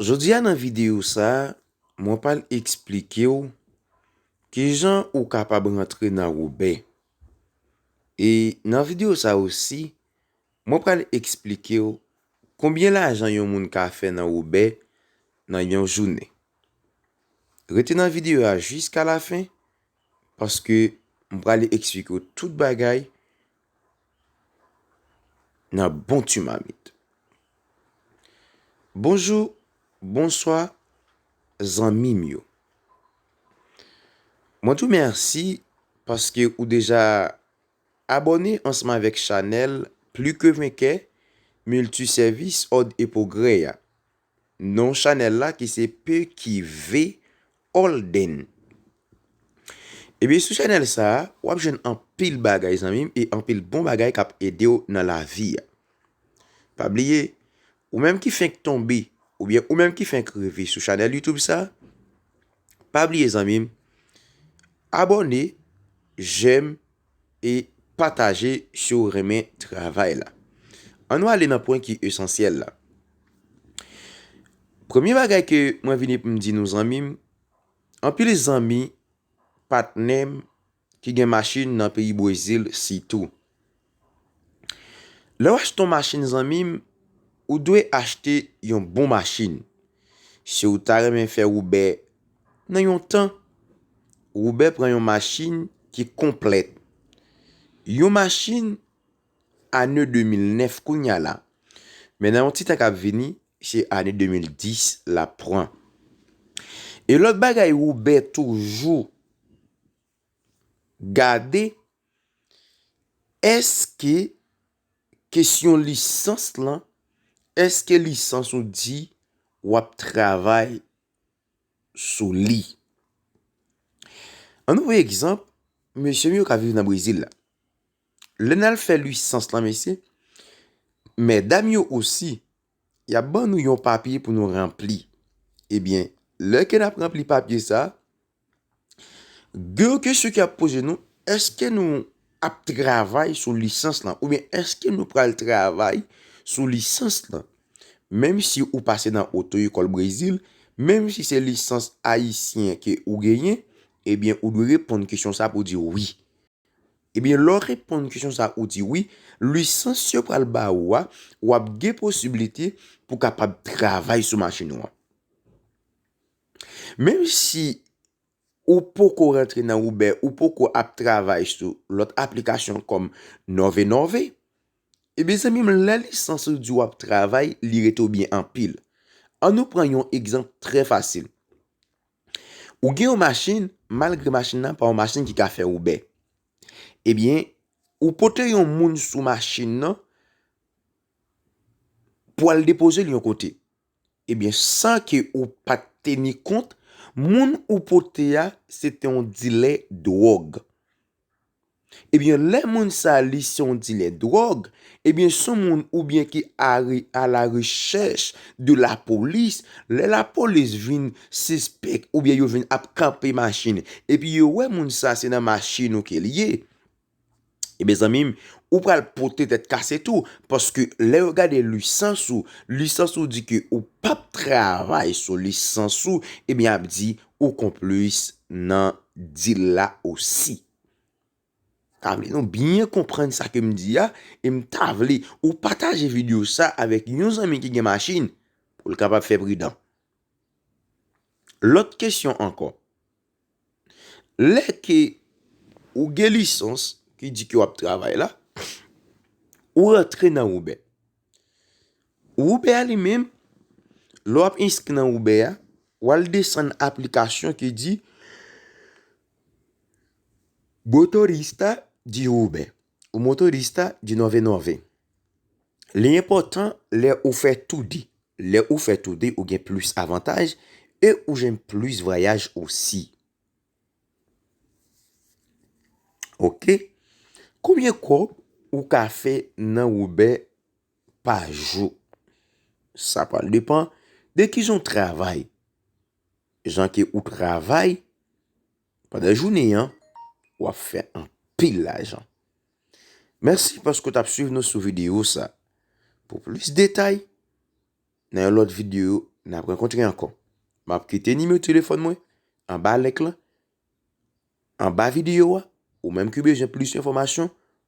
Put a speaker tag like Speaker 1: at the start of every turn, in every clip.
Speaker 1: Jodi a nan videyo sa, mwen pral eksplike w kijan ou kapab rantre nan Robè. E nan videyo sa osi, mwen pral eksplike w konbyen lajan yon moun ka fè nan Robè nan yon jounen. Rete nan videyo a jiskalafen paske m pral eksplike w tout bagay nan bon tu mamit. Bonjou, bonswa zanmim yo. Mwen tou mèsi paske ou deja abòne ansanm avèk chanèl Pli ke Venkè Milti Sèvis Òd e Pwogrè a. Non chanèl la ki se PQV Holden. Ebyen sou chanèl sa a, wap jwenn anpil bagay zanmi m e anpil bon bagay kap ede w nan lavi a. Pa bliye, ou menm ki fenk tonbe oubyen ou menm ki fenk rive sou chanèl YouTube sa, pa bliye zanmi m, abòne, jèm. e pataje si w renmen travay la. An nou ale nan pwen ki esansyèl la. Premye bagay ke mwen vini pou m di nou zanmi m, anpil zanmi, patnè m ki gen machin nan peyi Bwezil sitou. Lè w achte yon machin zanmi m, ou dwe achte yon bon machin. Si w ta renmen fè woube. Nan yon tan, Woubè pran yon machin ki konplèt. Yon machin ane 2009 kounye a la. Men nan yon ti tan k ap vini, se ane 2010 l ap pran. E lòt bagay Woubè toujou gade, èske kesyon lisans lan, èske lisans ou di w ap travay? sou li. An nou pran egzanp, mesye m yo k ap viv nan Brezil la. Lè n al fè lisans lan mesye, medam yo osi, y ap ban nou yon papye pou nou ranpli. Ebyen, lè ke n ap ranpli papye sa a. De yon kesyon ki ap poze nou, eske nou ap travay sou lisans lan oubyen eske nou pral travay sou lisans lan? Menm si ou pase nan oto ekòl Brezil, menm si se lisans ayisyen ke ou genyen, ebyen ou dwe reponn kesyon sa pou di wi. Ebyen lè w reponn kesyon sa ou di wi, lisans yo pral ba ou a, wap gen posibilite pou kapab travay sou machin ou an. Menm si ou poko rantre nan Uber, ou poko ap travay sou lòt aplikasyon kòm Nove Nove, e byen zanmi m lè lisans ou di w ap travay, li rete w byen anpil. An nou pran yon egzanp trè fasil. Ou gen yon machin, malgre machin nan pa yon machin ki ka fè Uber. E byen, ou pote yon moun sou machin nan pou al depoze l yon kote. Ebyen san ke ou pat teni kont, moun ou pote a se te yon dilè dwòg. Ebyen lè moun sa li se yon dilè dwòg, ebyen son moun oubyen ki are a la rechèch de la polis, lè la polis vin sispèk oubyen yo vin ap kanpe machin epi yo wè moun sa se nan machin ou ke li ye, E byen zanmi m, ou pral pote tèt kase tou, paske lè yo gade lisans ou, lisans ou di ke ou pap travay sou lisans ou, e byen ap di ou konplis nan dil la osi. Ta vle nou byen konprann sa ke m di a, e m ta vle ou pataje video sa avèk yon zanmi ki gen machin, pou l kapab fè pridan. Lòt kesyon ankò. Lè ke ou gen lisans ki di ke wap travay la, ou rantre nan Uber. Uber a li menm, lè wap enskri nan Uber a, wal desann aplikasyon ki di Motorista di Uber. O motorista de 99, li enpòtan lè ou fè tou de, lè ou fè tou de ou gen plis avantaj e ou jwenn plis vwayaj osi. Ok, konbyen kòb ou ka fè nan Uber pa jou? Sa pral depan de kijan ou travay, jan ke ou travay. Pandan jounen an, w ap fè anpil lajan. Mèsi paske w t ap swiv nou sou videyo sa. Pou plis detay, nan yon lòt videyo, n ap rankontre ankò. M ap kite nimewo telefòn mwen anba link lan, anba videyo a. Ou menm ki bezwen plis enfòmasyon,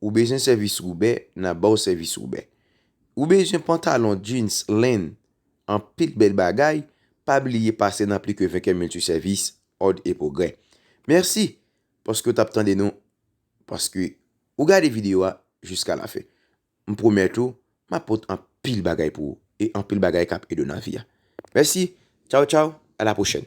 Speaker 1: Ou bezwen sèvis Roube, n ap ba w sèvis Roube. Ou bezwen pantalon jeans len, anpil bèl bagay, pa bliye pase nan pli ke Venkè Multi Service, Òd e Pwogrè. Mèsi paske w t ap tande nou, paske ou gade videyo a jiska la fen. M pwomèt ou, m ap pot anpil bagay pou ou e anpil bagay k ap ede w nan vi a. Mèsi, tchaw tchaw, a la pwochèn!